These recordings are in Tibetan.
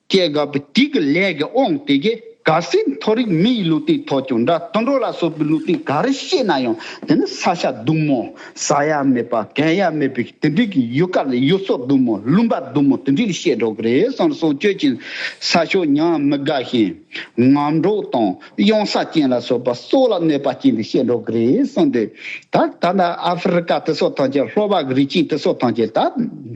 སྐྱེ་རྒ་བུ་སྐྱིད་ཀྱི་ལས་ཀྱི་དབང་དེ་གའི་ག་སེར་མཐོ་རིགས་མི་ཡི་ལུས་སྟེང་ཐོགས་ཀྱང་འདྲ་དུད་འགྲོ་ལ་སོགས་པའི་ལུས་སྟེང་ག་རེ་བཤད་ན་ཡང་དེ་ནི་ས་ཤ་ཟླུམ་མོ་ཟ་ཡ་མེད་པ་གན་ཡ་མེད་པའི་དེ་འདྲིས་ཀྱི་ཡུལ་དཀར་ལས་ཡུལ་སྲོག་ཟླུམ་མོ་ལུང་པ་ཟླུམ་མོ་དེ་འདྲིས་ལ་བཤད་འགྲོ་གི་རེད་བསམ་སོང་ཁྱོད་ཀྱིས་ས་ཤོག་ཉམས་མི་དགའ་ཞིང་ངམ་གྲོགས་དང། གཡང་ས་ཅན་ལ་སོགས་པ་སྲོག་ལ་གནོད་པ་བྱིན་ཏེ་བཤད་འགྲོ་གི་རེད་གསུངས་འདུག་ད་ད་ནི་ཨ་ཧྥེ་རི་ཀ་དེ་སོགས་ཐང་ཆེན་ལྷོ་བག་རི་ཆིང་དེ་སོགས་ཐང་ཆེན་ད་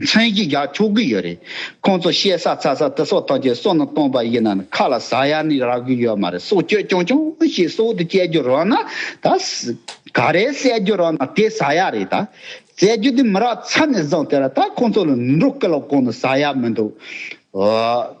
མཚན་གྱི་རྒྱག་ཆོག་གི་ཡོད་རེད་ཁོང་ཚོ་བཤད་ས་ཚ་ས་དེ་སོགས་ཐང་ཆེན་སོགས་ནང་བཏོང་པ་ཡིན་ན་ནི་ཁ་ལ་ཟ་ཡ་ནི་རག་གི་ཡོད་མ་རེད་སྲོག་གཅོད་ཀྱང་ཀྱང་ཞིག་སྲོག་དེ་བཅད་རྒྱུ་རག་ན་ད་ག་རེ་བསད་རྒྱུ་རག་ན་དེ་ཟ་ཡ་རེད་ད་བསད་རྒྱུ་དེ་མི་རག་ཚ་ནས་བཟང་དེ་ར་ད་ཁོང་ཚོ་ལ་འགྲོ་སྐལ་བ་གང་ནས་ཟ་ཡ་མི་འདུག་ཨོ།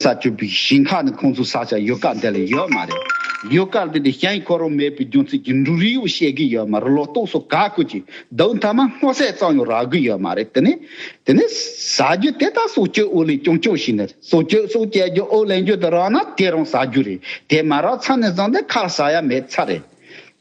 ས་བཅུ་པའི་ཞིང་ཁ་ནི་ཁོང་ཚོའི་ས་ཆ་ཡོད་སྐབས་འདི་ལ་ཡོད་མ་རེད། ཡོད་སྐབས་འདི་ནི་ཞེན་ཁོག་རུང་མེད་པའི་རྒྱུ་མཚན་གྱིས་འབྲུ་རིལ་བུ་བཤད་གི་ཡོད་མ་རེད་ལོ་ཏོག་སོགས་ག་གོས་ཀྱི་འདུག་མཐའ་མ་སྔོ་ཟས་གཙང་ཡང་རག་གི་ཡོད་མ་རེད་དེ་ནི། དེ་ནི་ཟ་རྒྱུ་དེ་དག་གསོ་བཅོས་ཨོ་ལེན་ཀྱང་བཅོས་ཤིག་ནི་རེད་གསོ་བཅོས་སོགས་བྱེད་རྒྱུ་ཨོ་ལེན་རྒྱུ་དེ་རག་ན་དེ་རང་ཟ་རྒྱུ་རེད་དེ་མ་རག་ཚར་ནས་བཟང་སྟེ་ཁ་ཟ་ཡ་མེད་ཚར་རེད།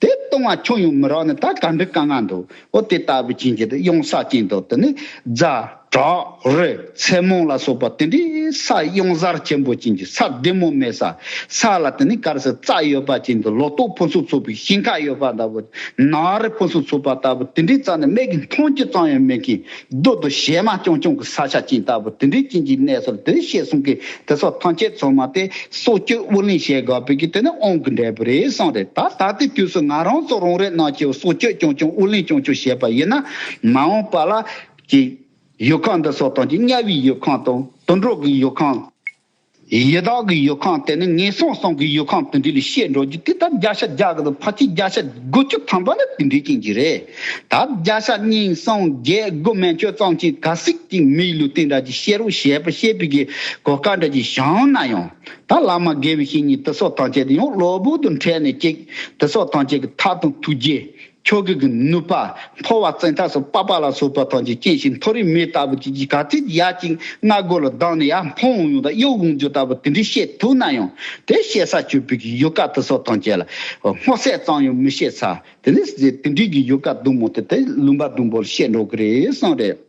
དེ་ལྟུང་བ་ཁྱོད་ཡོང་མི་རོགས་ནི་ད་ག་འགྲིག་ག་ང་འདུག་ཨོ་དེ་ལྟ་བུའི་བྱིན་གྱིས་དུ་གཡོང་ས་ཅན་དུ་དུ་ནི་རྫ་བྲག་རི་མཚན་མོང་ལ་སོགས་པ་དེ་འདྲའི་ས་གཡང་གཟར་ཆེན་པོ་ཅན་གྱི་ས་བདེ་མོ་མེད་ས་ས་ལ་དུ་ནི་དཀར་སེར་རྩྭ་ཡོད་པ་ཅན་དུ་ལོ་ཏོག་ཕུན་སུམ་ཚོགས་པའི་ཞིང་ཁ་ཡོད་པ་ལྟ་བུ་ནགས་རི་ཕུན་སུམ་ཚོགས་པ་ལྟ་བུ་དེ་འདྲའི་རྩ་ནི་སྨད་ཀྱི་མཐོང་ཆུ་གཙང་ཡང་མེད་མཁན་རྡོ་དུ་ཞལ་མ་ཀྱོང་ཀྱོང་གི་ས་ཆ་ཅན་ལྟ་བུ་དེ་འདྲའི་རྐྱེན་གྱིས་གནས་སོར་དུ་ཤེས་གསུང་གིས་དེ་སོགས་ཐང་ཆད་ཚོད་མ་སྟེ་སྲོག་གཅོད་དབུ་ལེན་བྱེད་དགོས་པས་ཀྱི་དེ་ནི་ཨོང་གི་འབྲས་བུ་རེད་གསུངས་རེད་ད་ད་ལྟའི་དུས་སུ་ང་རང་ཚོ་རང་རེ་རྣམས་ཀྱིས་སྲོག་གཅོད་ཀྱོང་ཀྱོང་དབུ་ལེན་ཀྱོང་ཀྱོང་བྱེད་པ་ཡིན་ན་མ་འོངས་པ་ལ། གྱི། ཡུལ་ཁང་འདི་སོགས་དང་གཉའ་བའི་ཡུལ་ཁང་དང་དུད་འགྲོ་གི་ཡུལ་ཁང། ཡི་དྭགས་ཀྱི་ཡུལ་ཁམས་དེ་ནི་ངན་སོང་སོང་གི་ཡུལ་ཁམས་དེ་འདྲས་ལས་བཤད་འགྲོ་རྒྱུ་དེ་ལྟར་བརྒྱ་ཆ་བརྒྱ་དགུ་དང་ཕ་གཅིག་བརྒྱ་ཆ་དགུ་བཅུ་ཐམ་པ་ལ་དེ་འདྲས་ཅན་གྱི་རེད། ད་བརྒྱ་ཆ་གཉིས་གསུམ་བརྒྱད་དགུ་སྨན་བཅོས་གཙང་ཅན་ག་ཟིག་ཅིག་མིའི་ལུས་སྟེང་དགྲ་ཀྱི་ཤེས་རོགས་ཞེས་པ་བཤད་པའི་གི་གོ་སྐ་འདྲ་ཅིག་བཞག་ན་ཡང་ད་བླ་མ་དགེ་བའི་བཤེས་གཉེན་དེ་སོགས་ཐམས་ཅད་དེ་ཡང་བློ་བུར་དུ་འཕྲལ་ནས་ཅིག་དེ་སོགས་ཐམས་ཅད་ཀྱི་ཐབས་དང་ཐུགས་རྗེ་ཁྱོ་གས་གི་ནུས་པ་མཐོ་བ་བཙན་ཐབས་སུ་པགས་པ་ལ་སོགས་པ་ཐང་ཆེན་སྐྱེས་ཤིང་མཐོ་རིས་མེ་ལྟ་བུ་གཅིག་གིས་ག་ཚོད་ཀྱིས་ཡག་ཅིང་སྔ་རྒོལ་ལ་སྡང་ནས་ཡར་འཕངས་འོང་ཡོང་དང་གཡོ་འོང་འཇུག་ལྟ་བུ་དེ་འདྲས་བཤད་ཐུབ་ན་ཡང་དེ་བཤད་ས་ཆོས་བོད་ཀྱི་ཡུལ་ཀ་དུ་སོགས་ཐང་ཆེན་ལ་སྔོ་སད་ཙམ་ཡང་མི་བཤད་ས་དེ་ནས་དེ་འདྲས་ཀྱི་ཡུལ་ཀ་བདུན་མོ་དེ་དེ་ལུང་པ་བདུན་པོ་ལ་བཤད་འགྲོ་གི་རེད་བསམ་རེད།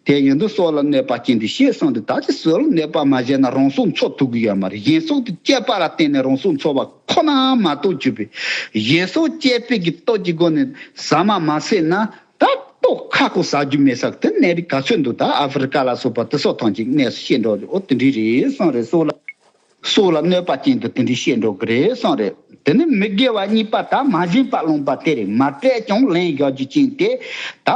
དེ་ཡོན་དུ་སྲོག་ལ་གནོད་པ་སྐྱེན་ཏེ་ཞེས་གསུངས་ཏེ་ད་ཅི་སྲོད་ལ་གནོད་པ་མ་བྱས་ན་རང་སྲོག་འཚོ་ཐུབ་ཀྱི་ཡོད་མ་རེད་གཞན་སྲོག་གི་སྐྱེད་པ་ལ་བརྟེན་ནས་རང་སྲོག་འཚོ་བ་ཁོ་ནའང་མ་གཏོགས་བཅུ་པའི་གཞན་སྲོག་སྐྱེད་སྤེལ་གྱི་སྟོབས་ཀྱི་སྒོ་ནས་ཟ་མ་མ་ཟས་ན་ད་གཏོགས་ཁ་ཁོ་ཟ་རྒྱུ་མེད་ས་དེ་གནས་རིགས་ག་ཚོད་འདུག་ད་ཨ་ཧྥི་རི་ཀ་ལ་སོགས་པ་དེ་སོགས་ཐང་ཅིག་གནས་སུ་ཤེས་འགྲོ་རེད་ཨོ་དེ་འདྲའི་རེད་སང་རེད་སོགས་ལ། སྲོག་ལ་གནོད་པ་ཅན་དུ་དེ་འདྲའི་བཤད་འགྲོ་གི་རེད་གསུངས་རེད་དེ་ནི་མི་དགེ་བ་གཉིས་པ་དག་མ་བྱིན་པ་སློང་པ་དེར་མ་སྤྲད་ཀྱང་ལན་བཞག་རྒྱུ་ཅན་དེ་དག་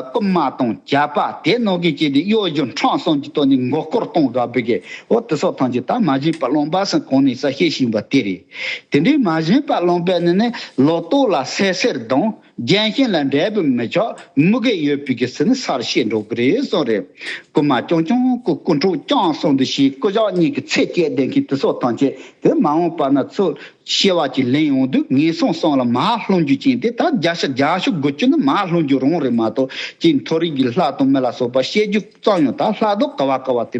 རྐུན་མ་དང་བྱ་བ་དེ་ནོར་གྱི་བྱས་ཏེ་གཡོ་སྒྱུ་འཕྲང་སོགས་ཀྱི་ཐོག་ནས་མགོ་སྐོར་གཏོང་དགའ་བོ་གི་འོ་དེ་སོགས་ཐམས་ཅད་དག་མ་བྱིན་པ་སློང་པ་སེམས་གོང་ནས་ས་བཤད་བཞིན་པ་དེ་རེད་དེ་འདྲའི་མ་བྱིན་པ་སློང་པའི་ནི་ནི་ལོག་རྟོག་ལ་སད་སེར་དང། རྒྱན་ཞིང་ལ་འབྲས་བུ་མི་ཆོག་དམུ་གེ་ཡོད་པའི་གེ་སི་ནི་སར་བཤད་འགྲོ་གི་རེད་གསུངས་རེད། རྐུ་མ་ཀྱང་ཀྱང་རྐུ་རྐུ་འཕྲོག་རྐྱང་གསུངས་འདུག་ཞེས་རྐུ་ཇག་གཉིས་ཀྱི་ཚད་བཅད་ལྡན་མཁན་དེ་སོགས་ཐང་ཆད་དེ་མ་འོངས་པ་ན་ཚོས་ཤེས་བ་ཅིག་ལེན་ཡོང་དུས་ངན་སོང་སོང་ལ་མ་ལྷུང་རྒྱུ་ཅན་དེ་དག་རྒྱ་ཤ་རྒྱ་ཤོ་དགོད་རྒྱུ་ནི་མ་ལྷུང་རྒྱུ་རང་རེད་མ་གཏོགས་ཅི་མཐོ་རིས་ཀྱི་ལྷ་དང་མི་ལ་སོགས་པ་བཤད་རྒྱུ་གཙང་ཡང་དག་ལྷ་དང་ཀ་བ་ཀ་བ་དེ་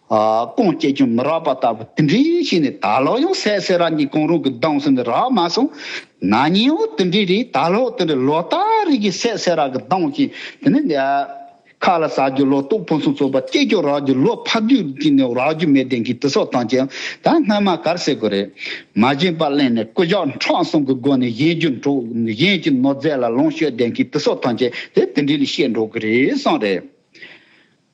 ཀོང་སྐྱེས་ཀྱང་མི་རག་པ་ལྟ་བུ་དེ་འདྲའི་ཞིག་ནས་ད་ལོ་ཡང་གསལ་གསལ་རང་གི་གོང་རོང་གི་གདོང་ཟུང་ནས་རག་མ་སོང། ན་ཉིན་འོ་དེ་འདྲའི་རིགས་ད་ལོ་དེ་འདྲའི་ལོ་སྟག་རིགས་ཀྱི་གསལ་གསལ་རག་གི་གདོང་བཞིན་དེ་ནི་འདའ། ཁ་ལ་ཟ་རྒྱུ་ལོ་ཏོག་ཕུན་སུམ་ཚོགས་པ་སྐྱེས་ཀྱང་རག་རྒྱུ་ལོ་ཕག་རྒྱུ་གཅིག་ནས་རག་རྒྱུ་མེད་དེང་གི་དུས་སྲོག་ཐང་ཅན་ད་སྔོན་མ་གར་སེ་དགོས་རེད། མ་བཞེངས་པ་གླེང་ནས་སྐུ་ཞག་འཕྲོག་སོང་གི་སྒོ་ནས་བཞེངས་རྒྱུ་འགྲོ་བཞེངས་ཀྱི་ནོར་རྫས་ལ་ལོངས་སྤྱོད་དེང་གི་དུས་སྲོག་ཐང་ཅན་དེ་དེ་འདྲའི་ལས་བཤད་འགྲོ་གི་རེད་བསམ་རེད།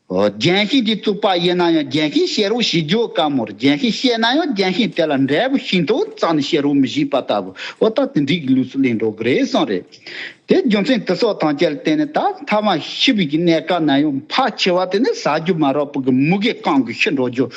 རྒྱན་ཤིང་དེ་བཙུགས་པ་དབྱེ་ན་ཡང་རྒྱན་ཤིང་བཤད་རོགས་ཞེས་བརྗོད་དཀའ་མོད་རྒྱན་ཤིང་བཤད་ན་ཡང་རྒྱན་ཤིང་དེ་ལ་འབྲས་བུ་ཤིང་ཏོག་ཙམ་ནི་བཤད་རོགས་མི་བཞེད་པ་ལྟ་བུའོ་ད་དེ་འགྲིག་གི་ལུགས་སུ་གླེང་འགྲོ་གི་རེད་བསམ་རེད། དེའི་རྒྱུ་མཚན་དེ་སོགས་དང་བཅས་ལ་བརྟེན་ནས་ད་མཐའ་མ་ཤི་བུ་ཀྱི་གནས་སྐབས་ན་ཡང་ཕག་ཆེ་བ་དེ་ནི་ཟ་རྒྱུ་མ་རག་བུ་གི་མུ་གེ་བསྐང་དགོས་ཤི་འགྲོ་རྒྱུ།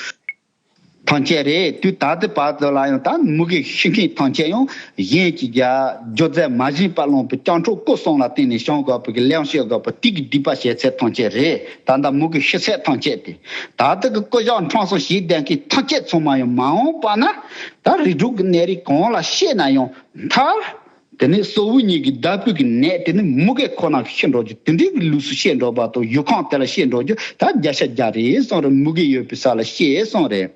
ཐང་ཆད་རེད་དུས་ད་ལྟའི་བར་དུ་ལ་ཡང་ད་མུ་གེ་ཤི་མཁན་ཐང་ཆད་ཡང་གཞན་གྱི་རྒྱ་སྒྱོ་རྫས་མ་བཞིན་པ་བླངས་པའི་སྤྱང་གྲོགས་སྐུ་སྲོང་ལ་བརྟེན་ནས་ཞང་དགའ་བོ་གི་གླེང་བཤད་དགའ་བོ་ཏིག་གི་སྒྲིབ་པ་བཤད་ཚད་ཐང་ཆད་རེད་ད་ད་མུ་གེ་ཤི་ཚད་ཐང་ཆད་དེ་ད་ལྟ་གི་སྐུ་ཞང་འཕྲང་སོང་ཞིག་ལྡན་མཁན་ཐང་ཆད་ཚང་མ་ཡང་མ་འོངས་པ་ན་ད་རིགས་དྲུག་གི་གནས་རིགས་གང་ལ་བཤད་ན་ཡང་མཐར་དེ་ནས་སོ་བུ་གཉིས་ཀྱིས་བདག་སྤོས་ཀྱི་ནད་དེ་ནི་མུ་གེ་ཁོ་ན་ཤི་འགྲོ་རྒྱུ་དེ་འདྲའི་གི་ལུགས་སུ་བཤད་འགྲོ་བ་དང་ཡུལ་ཁང་དེ་ལ་བཤད་འགྲོ་རྒྱུ་ད་བརྒྱ་ཆ་བརྒྱ་རེད་གསུངས་རེད་མུ་གེ་ཡོད་པའི་ས་ལ་བཤད་གསུངས་རེད།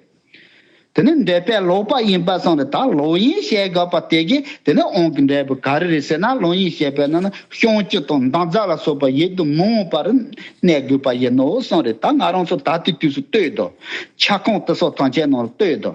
དེ་ནི་འདྲེ་པས་ལོག་པ་ཡིན་པ་གསུངས་རེད་ད་ལོག་ཡིན་བཤད་དགོས་པ་དེ་གས་དེ་ནི་ཨོང་གི་འདྲེ་བུ་ག་རེ་རེད་ཟེར་ན་ལོག་ཡིན་བཤད་པའི་ནང་ན་གཤོང་སྤྱི་དང་མདངས་རྫ་ལ་སོགས་པ་ཡིད་དུ་མི་འོང་པ་རུ་གནས་དགོས་པ་ཡིན་ནོ་གསུངས་རེད་ད་ང་རང་ཚོ་ད་ལྟའི་དུས་སུ་ལྟོས་དང། ཆ་ཁང་དེ་སོགས་ཐང་ཆེན་ནང་ལ་ལྟོས་དང།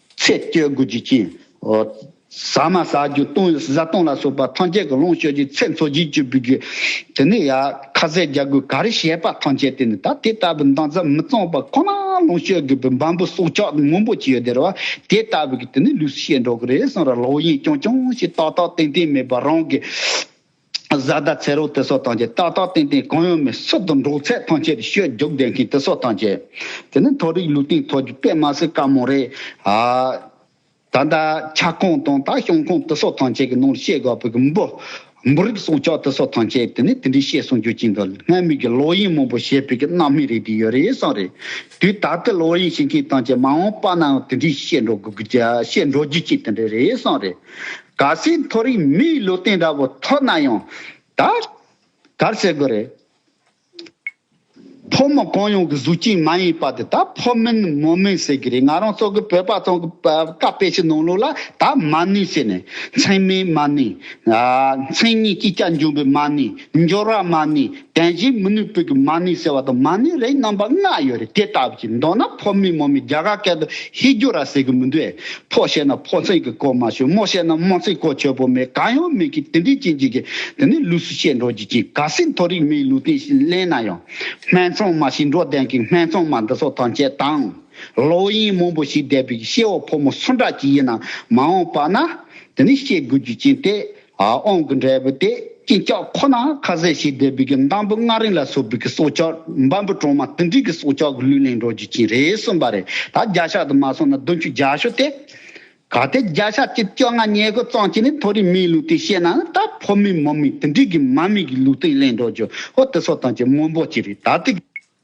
ཚེ་སྐྱོ་དགུ་བཅུ་གཅིག། ཟ་མ་ཟ་རྒྱུ་བཏུང་བཟའ་བཏུང་ལ་སོགས་པ་ཐམས་ཅད་ཀྱི་ལོངས་སྤྱོད་ཀྱི་ཚེ་འཚོ་བཞི་བཅུ་བུ་གུ། དེ་ནས་ཡང་ཁ་ཟས་རྒྱ་གུ་ག་རེ་བཤད་པ་ཐམས་ཅད་དེ་ནི་ད་དེ་ལྟ་བུའི་མདངས་རྩ་མི་གཙང་བ་ཁོ་ན་ལོངས་སྤྱོད་དགོས་པའི་འབའ་འབུ་སྲོག་ཆགས་སྔོན་པོ་ཅི་ཡོད་དེར་བ་དེ་ལྟ་བུ་གི་དེ་ནི་ལུས་སུ་བཤད་འགྲོ་གི་རེད་གསུངས་ར་ལོག་གཡེང་རྐྱང་རྐྱང་ཞིག་ཏག་ཏག་ཏན་ཏན་མེད་པར་རང་གི་བཟའ་ཟླ་ཚེ་རོགས་དེ་སོགས་ཐམས་ཅད་ཏག་ཏག་ཏན་ཏན་གང་ཡོང་མིན་སུ་དང་འགྲོགས་ཚད་ཐམས་ཅད་ཤོད་རྒྱུགས་བསྡད་མཁན་དེ་སོགས་ཐམས་ཅད། དེ་ནི་མཐོ་རིགས་ལུས་སྟེང་ཐོག་རྒྱུགས་པས་མ་ཟད་དཀའ་མོ་རེད། ད་ལྟ་ཁྱབ་ཁོངས་དང་ད་ཤོང་ཁོངས་དེ་སོགས་ཐམས་ཅད་ཀྱི་ནང་ལ་བཤད་དགོས་པ་ཀྱི་འབུ། འབུ་རིགས་སྲུང་སྐྱོབ་དེ་སོགས་ཐམས་ཅད་དེ་ནི་དེ་འདྲའི་བཤད་གསུང་རྒྱུ་གཅིག་འདུག་སྔར་མུས་ཀྱི་ལོག་གཡེམ་མང་པོ་བྱེད་པའི་ཀྱི་རྣམ་སྨིན་རེ་དེ་ཡོད་རེད་བསམ་རེད། དུས་ད་ལྟའི་ལོག་གཡེམ་བྱེད་མཁན་ཐམས་ཅད་མ་འོངས་པ་ནའང་དེ་འདྲའི་བཤད་འགྲོ་དགོས་རྒྱུ་བཤད་འགྲོ་རྒྱུ་གཅིག་དེ་འདྲ་རེད་བསམ་རེད། ག་སའི་མཐོ་རིམ་མིའི་བློ་བརྟན་འདྲ་བོ་ཐོག་ན་ཡང་ད་གར་ཟེར་དགོས་རེད། ཕོ་མོ་གང་ཡོང་གི་གཟུགས་ཅན་མ་ཡིན་པ་དེ་ད་ཕོ་མིན་མོ་མིན་ཟེར་གི་རེད་ང་རང་སོག་གི་བོད་པ་ཚང་གི་བཀའ་དཔེ་ཞིག་ནང་ལུགས་ལ་ད་མ་ནུས་ཟེར་ནས་མཚན་མའི་མ་ནུས། མཚན་ཉིད་ཀྱི་སྐྱ་འབྱུང་པའི་མ་ནུས་འབྱོར་བ་མ་ནུས་དེ་བཞིན་མི་ནུས་པོད་ཀྱི་མ་ནུས་ཟེར་བ་དང་མ་ནུས་རེའི་རྣམ་པ་ལྔ་ཡོད་རེད་དེ་ལྟ་བུ་ཅིག་མདོར་ན་ཕོ་མིན་མོ་མིན་རྒྱ་གར་སྐད་དུ་ཧི་རྒྱུ་ར་ཟེར་གི་མི་འདུག་ཨེ། ཕོ་བཤད་ན་ཕོ་མཚན་གྱི་གོ་མ་ཆོད་མོ་བཤད་ན་མོ་མཚན་གོ་ཆོད་པོ་མེད་གང་ཡང་མེད་ཀི་དེ་འདྲའི་རྐྱེན་གྱིས་ཀྱི་དེ་ནི་ལུས་སུ་བཤད་འགྲོ་རྒྱུ་ཅི་ག་སྲིད་མཐོ་རིས་མིའི་ལུས་སྟེང་ཞིག་གླེང་ན་ཡང། སྨད་འཚོང་མ་ཞིག་འགྲོ་བསྡད་ཀྱི་སྨད་འཚོང་མ་འདི་ཚོ་ཐམས་ཅད་དང། ལོ་ཡིན་མོང་པོ་ཞིག་བསྡད་པའི་ཤེས་བ་ཕོ་མོ་སུ་འདྲ་ཅིག་ཡིན་ནམ་མ་འོངས་པ་ན། དེ་ནི་བཤད་དགོས་རྒྱུ་ཅན་ཏེ། ཨོང་གི་འབྲས་བུ་དེ་སྐྱིན་ལྕགས་ཁོ་ན་ཁ་ཟས་ཤིག་བསྡད་པའི་གི་འདམ་བུ་སྔགས་རིང་ལ་སོགས་པའི་གི་སྲོག་ཆགས་འབའ་འབུ་གྲོག་མ་ཏི་འབྲི་གི་སྲོག་ཆགས་གི་ལུས་ལེན་འགྲོ་རྒྱུ་ཅི་རེད་གསུངས་པ་རེད་ད་བརྒྱ་ཤ་དུ་མ་སོང་ན་བདུན་ཅུ་བརྒྱ་ཤོ་སྟེ། གལ་ཏེ་བརྒྱ་ཤ་གཅིག་བཅོ་ལྔ་ཉེ་དགུ་གཙང་གཅིག་ནི་མཐོ་རིས་མིའི་ལུགས་དེ་ཤེས་ན་ནི་ད་ཕོ་མིའི་མོ་མིའི་ཏི་འབྲི་གི་མ་མིའི་གི་ལུགས་དེ་ལེན་འགྲོ་རྒྱུ་ཧོ་ཏི་སོ་དང་གཅིག་སྔོན་པོ་གཅིག་རེད་ད་ཏི།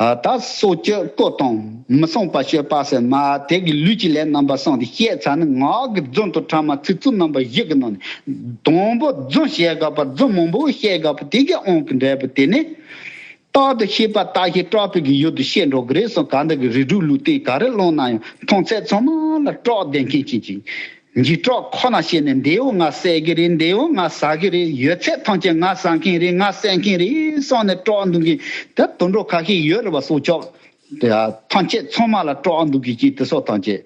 ད་སོ་སྐྱེ་བཀོད་དང་མི་གསང་པ་སྤྱོད་པ་སེར་མ་དེ་གི་ལུས་ཀྱི་ལས་རྣམ་པ་གསང་སྟེ་བཤད་ཚ་ནི་ངག་གི་རྫུན་དང་ཕྲ་མ་ཚིག་རྩུབ་རྣམ་པ་བཞི་གི་ནང་ནས། དང་པོ་རྫུན་བཤད་དགག་པ་རྫུན་མང་པོ་བཤད་དགག་པ་དེ་གའི་ཨང་གི་འབྲས་བུ་དེ་ནི། རྟག་ཏུ་ཤེས་པ་རྟག་ཤེས་སྐྲག་པའི་གི་ཡུལ་དུ་བཤད་འགྲོ་གི་རེད་སོང་ག་འདི་གི་རིགས་དྲུག་ལུས་རྟེན་ག་རེ་བླངས་ན་ཡང་མཐོང་ཚད་ཚང་མ་ལ་སྐྲག་བདེ་མཁན་གྱི་ཅིང། འཇིགས་གྲོགས་ཁོ་ན་བྱས་ནས་མདེའུ་ང་བསད་ཀྱི་རེད་མདེའུ་ང་ཟ་གི་རེད་ཡོད་ཚད་ཐམས་ཅད་ང་ཟ་མཁན་རེད་ང་བསད་མཁན་རེད་གསུངས་ནས་སྤྲོ་བ་འདུག་གི་དེ་དུད་འགྲོ་ག་ཤེད་ཡོད་རེད་བ་སོགས་ཅོག་ཐམས་ཅད་ཚོང་མ་ལ་སྤྲོ་བ་འདུག་གི་ཅིག་དེ་སོགས་ཐམས་ཅད།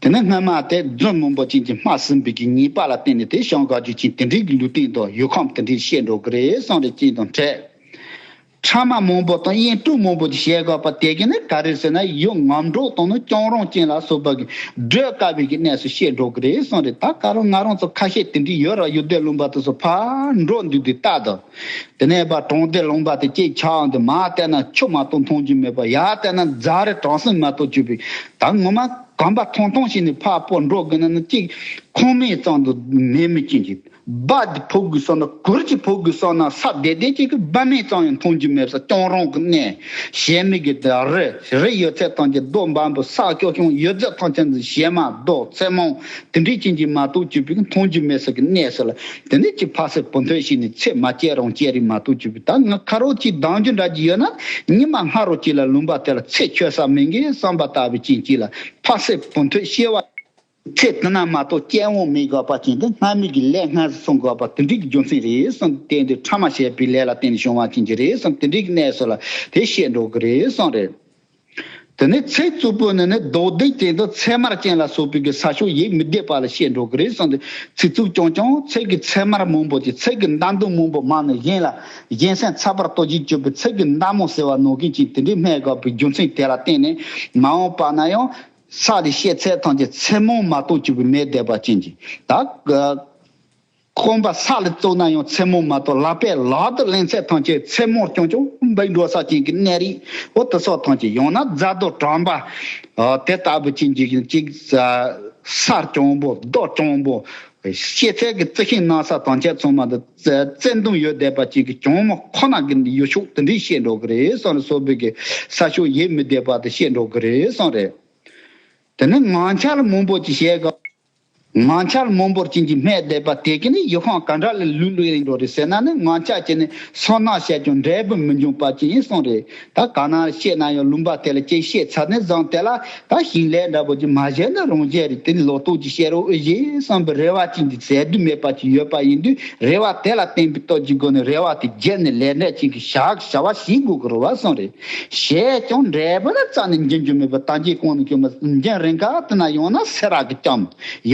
དེ་ནས་སྔོན་མ་དེ་རྫུན་སྨོན་པོ་ཅན་གྱིས་སྨྲ་ཟིན་པའི་གི་ཉེས་པ་ལ་བརྟེན་ནས་དེ་ཞང་ག་རྒྱུད་ཆེན་དེ་འདྲིའི་གི་ལུས་སྟེང་དུ་ཡུལ་ཁམས་དེ་འདྲིའི་བཤད་འགྲོ་གི་རེད་གསུངས་རེ་བཅིངས་དང་བྲལ། ཕྲ་མ་མང་པོ་དང་དབྱེན་དཀྲུགས་མང་པོ་གྱི་བྱེད་དགོས་པ་དེ་ག་ནི་ག་རེད་ཟེར་ན་ཡུལ་ངམ་འབྲོག་དང་ནི་སྐྱོང་རང་ཅན་ལ་སོགས་པ་གི་བགྲོད་དཀའ་བའི་གི་གནས་སུ་བཤད་འགྲོ་གི་རེད་གསུངས་རེད་ད་ག་རང་ང་རང་ཚོ་ཁ་ཤས་དེ་འདྲའི་ཡོད་རང་ཡུལ་སྡེ་ལུང་པ་དེ་སོགས་ཕར་འགྲོ་འདུག་དེ་ལྟ་དང། དེ་ནས་པར་གྲངས་སྡེ་ལུང་པ་དེ་སྐྱེས་ཆགས་འདི་མ་བལྟས་ན་ཆུ་མ་གཏོགས་མཐོང་རྒྱུ་མེད་པ་ཡར་བལྟས་ན་རྫ་རི་བྲང་སེང་མ་གཏོགས་བཅུ་པའི་ད་ངོ་མ་གམ་པ་ཐང་ཐང་ཞིག་ནས་ཕར་སྤོ་འགྲོ་དགོས་ན་ནི་གཅིག་ཁང་མིག་ཙམ་དུ་མེད་མི་སྐྱིན་ཅིག་སྦག་གི་ཕོ་རྒོད་སོགས་ན་གུར་གྱི་ཕོ་རྒོད་སོགས་ན་ས་བདེ་བདེ་ཅིག་གི་སྦག་མེད་ཙམ་ཡང་མཐོང་རྒྱུ་མེད་པས་སྐྱོང་རོང་གི་གནས་གཞན་མི་དགེ་དེ་རི་རི་ཡོད་ཚད་ཐང་ཆེན་རྡོ་འབའ་པོ་ས་སྐྱོ་ཆུང་ཡོད་ཚད་ཐང་ཆེན་འདི་ཞེ་མ་རྡོ་ཚེ་མང་དེ་འདྲའི་ཅན་གྱིས་མ་གཏོགས་གྱུར་པའི་མཐོང་རྒྱུ་མེད་ས་གི་གནས་སུ་ལ་དེ་ནས་ཀྱི་ཕ་སེར་བུ་མཐོན་ཞིག་ནས་ཚེ་མ་སྐྱེས་རང་སྐྱེས་རིགས་མ་གཏོགས་གྱུར་པའི་ད་ང་ཁ་རོག་ཅིག་སྡང་རྒྱུ་འདྲ་ཅིག་ཡོད་ན་ཉི་མ་སྔ་རོག་ཅིག་ལ་ལུང་པ་དེ་ལ་ཚེ་ཆོད་ས་མིན་གི་བསམ་པ་ལྟ་བུའི་རྐྱེན་གྱིས་ལ་ཕ་སེར་བུ་མཐོས་ཤེས་བ། ཚེ་འདི་ན་མ་གཏོགས་སྐྱེ་བོ་མི་དགའ་བ་ཅན་དེ་སྔར་མུས་ཀྱི་ལས་སྔར་བསྲུང་དགོས་པ་དེ་འགྲིག་གི་རྒྱུ་མཚན་རེད་གསུངས་ཏེ་དེ་འདི་ཕྲ་མ་བྱས་པའི་ལས་ལ་བརྟེན་ནས་བྱུང་བ་ཅན་གྱི་རེད་གསུངས་དེ་འགྲིག་གི་གནས་སུ་ལ་དེ་བཤད་འགྲོ་གི་རེད་གསུངས་རེད། དེ་ནས་ཚེ་རྩུབ་པོ་ནི་ནི་རྡོ་རྡེག་ཅན་དང་ཚེར་མར་ཅན་ལ་སོགས་པའི་གི་ས་ཕྱོགས་ཡིད་མི་བདེ་བ་ལ་བཤད་འགྲོ་གི་རེད་གསུངས་ཏེ་ཚེ་རྩུབ་ཀྱང་ཀྱང་ཚེ་གི་ཚེར་མར་མང་པོ་ཅན་ཚེ་གི་མདའ་མདུང་མང་པོ་མང་ནས་གཞན་ལ་གཞན་སེམས་ཚ་བར་ལྟོ་རྗེས་གཅོད་པའི་ཚེ་གི་མདའ་མོ་ཟེར་བ་ནོར་མཁན་ཅན་དེ་འདྲས་སྨྲས་དགོས་པའི་རྒྱུ་མཚན་དེ་ལ་བརྟེན་ནས་མ་འོངས་པ་ན་ཡང་ས་ལས་ཤེས་ཚད་ཐམས་ཅད་མཚན་མོ་མ་གཏོགས་གཅིག་པུ་མེད་བཟླས་པ་ཅན་གྱིས་དག། སྐོམ་པ་ས་ལ་བཙོ་ན་ཡང་མཚན་མོ་མ་གཏོགས་བླ་པའི་ལག་ཏུ་ལེན་ཚད་ཐམས་ཅད་མཚན་མོར་སྐྱོང་ཅིང་འབུལ་འགྲོ་ས་ཅན་གྱི་གནས་རིས་འོ་དི་སོགས་ཐམས་ཅད་ཡང་ན་རྫ་རྡོ་གྲམ་པ་དེ་ལྟ་བུ་ཅན་གྱིས་གཅིག། སར་གྱོང་པོ་རྡོར་གྱོང་པོ། ཤེས་ཚད་ཀྱི་རྩི་ཤིང་སྣ་ས་ཐམས་ཅད་ཚོང་མ་དང། བཙན་དུང་ཡོ་བསྡད་པ་ཅིག་གིས་གྱོང་མ་ཁོ་ན་གི་ཡོ་ཤུག་དེ་འདྲས་བཤད་འགྲོ་གི་རེད་སོང་རེད་སོ་བོད་ཀྱི་ས་ཤོག་ཡེ་མི་བསྡད་པ་དེ་བཤད་འགྲོ་གི་རེད་སོང་རེད། དེ་ནི་ང་འཆར་སྨོན་པོ་ཅིག་བཤད་གི། ང་འཆར་སྨོན་པོར་བྱིན་གྱིས་སྨད་བསྡད་པ་དེ་གི་ནི་ཡུལ་ཁང་ག་འདྲ་ལས་ལུས་ལུས་ཡིན་འགྲོ་རེད་ཟེར་ན་ནི་ང་འཆར་གྱི་ནི་སོ་ནག་བཤད་ཀྱང་འབྲས་བུ་མི་འབྱུང་པ་ཅིག་ཡིན་སོང་རེད། ད་གང་ན་བཤད་གནང་ཡོད་ལུང་པ་དེ་ལ་དཔྱད་ཤེས་ཚར་ནས་བཟང་དེ་ལ་ད་ཞིང་ལས་འདྲ་པོ་ཅིག་མ་བཞེས་ན་རང་བཞེས་རེད་དེ་ནི་ལོག་རྟོག་ཅིག་བཤད་རོགས་ཨི་བཞེས་བསམ་པའི་རེ་བ་ཅིག་འདི་ཟད་དུས་མེད་པ་ཅིག་ཡོད་པ་ཡིན་དུས་རེ་བ་དེ་ལ་བརྟེན་པའི་སྟོབས་ཀྱི་སྒོ་ནས་རེ་བ་དེ་བརྒྱད་ནི་ལས་འབྲས་ཅིག་གི་ཞག་བྱ་བ་ཞིག་དགོས་ཀྱི་རུ་བ་སོང་རེད་བྱས་ཀྱང་འབྲས་བུ་ལ་རྩ་ནས་འཇོན་རྒྱུ་མེད་པར་དང་རྒྱའི་གོང་ནས་བསྐྱོད་མ་ཟིན་རྒྱང་རིང་ག་དུ་ན་ཡང་ན་ཚེ་རག་གི་སྐྱམ།